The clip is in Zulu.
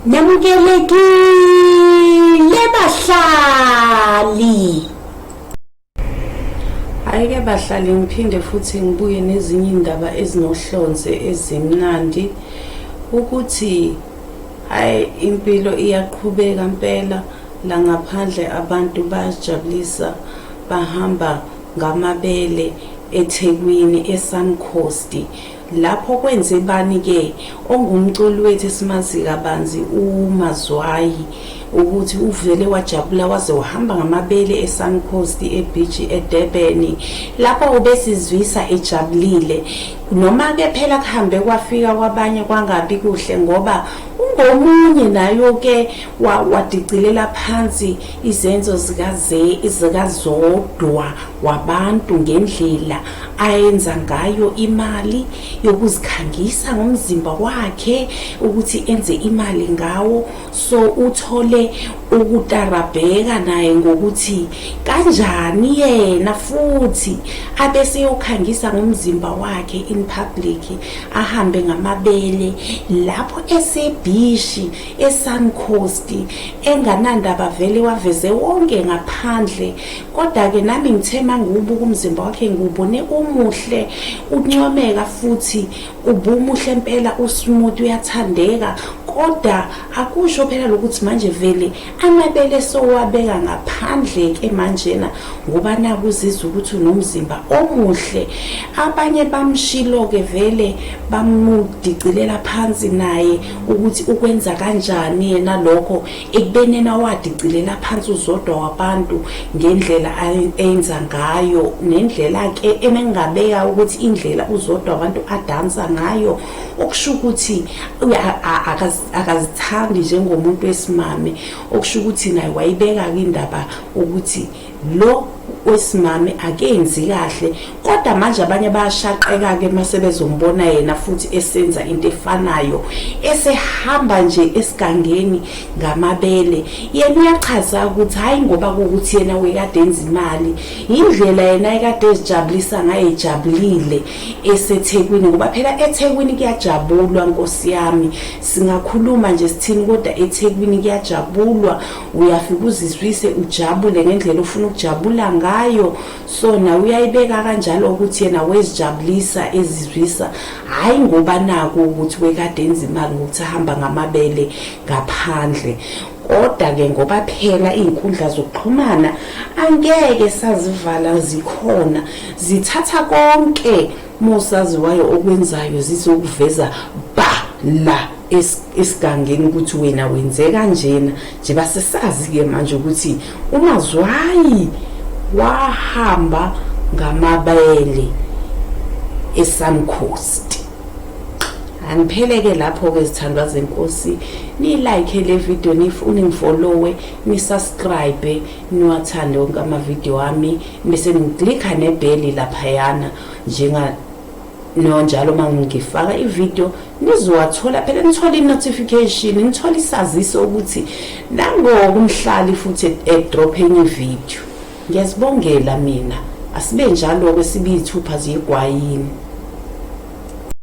Nyamukelekile bahlali. Ayike bahlali ngiphinde futhi ngibuye nezinye indaba ezinohlonze ezimnandi ukuthi ay impilo iyaqhubeka impela la ngaphandle abantu bayajabulisa bahamba ngamabele eThekwini eSun Coast Lapho kwenze bani ke ongumculi wethu esimazi kabanzi uMazwayi ukuthi uvele wajabula waze wahamba ngamabele eSuncoast eBeach eDurban lapho ubesizwisa ejabulile noma ke phela kuhambe kwafika kwabanye kwangabi kuhle ngoba ungomunye nayo ke wadicilela phansi Izenzo zikaZodwa wabantu ngendlela ayenza ngayo imali yokuzikhangisa ngomzimba wakhe ukuthi enze imali ngawo so uthole ukutarabheka naye ngokuthi kanjani yena futhi abeseyokhangisa ngomzimba wakhe in public ahambe ngamabele lapho esebhishi esankosti enganandaba vele waveze wonke ngaphandle kodwa-ke nami ngithe mangiwubuka umzimba wakhe ngiwubone umuhle uncomeka futhi ubumuhle mpela usmuti uyathandeka kodwa akusho phela lokuthi manje vele amabele sowabeka ngaphandle ke manjena ngoba nakuzizwa ukuthi unomzimba omuhle abanye bamshilo ke vele bamudicilela phansi naye ukuthi ukwenza kanjani yena lokho ekubeni yena wadicilela phansi uzodwa wabantu ngendlela ayenza ngayo nendlela-ke emengabeka ukuthi indlela uzodwa abantu adansa ngayo okusho ukuthi akazithandi njengomuntu wesimame okusho ukuthi naye wayibeka-ke indaba ukuthi lo wesimame akenzi kahle kodwa manje abanye bayashaqeka ke mase bezombona yena futhi esenza into efanayo esehamba nje esigangeni ngamabele yena uyachaza ukuthi hayi ngoba ukuthi yena wekade enza imali indlela yena ekade ezijabulisa ngaye ejabulile esethekwini ngoba phela ethekwini kuyajabulwa nkosi yami singakhuluma nje sithini kodwa ethekwini kuyajabulwa uyafika uzizwise ujabule ngendlela ofuna ukujabula ngayo so nawe uyayibeka kanjalo ukuthi yena wezijabulisa ezizwisa hhayi ngoba naku ukuthi wekade enza imali ngokuthi ahamba ngamabele ngaphandle kodwa-ke ngoba phela iy'nkundla zokuxhumana angeke sazivala zikhona zithatha konke Uma usaziwayo okwenzayo zizokuveza ba la esigangeni ukuthi wena wenze kanjena nje basesazi-ke manje ukuthi umazwayi wahamba ngamabele esun coast angiphele-ke lapho-ke zithandwa zenkosi niyilike le video nifune ngifollowe nisubscribe niwathande wonke amavidiyo ami Bese ngiklikha nebheli laphayana njenga no njalo uma ngifaka ivideo nizowathola phela nithola i-notification nithola isaziso ukuthi nangoku umhlali futhi edrop enye ivideo ngiyazibongela mina asibe njalo-ke sibe iy'thupha ziyigwayini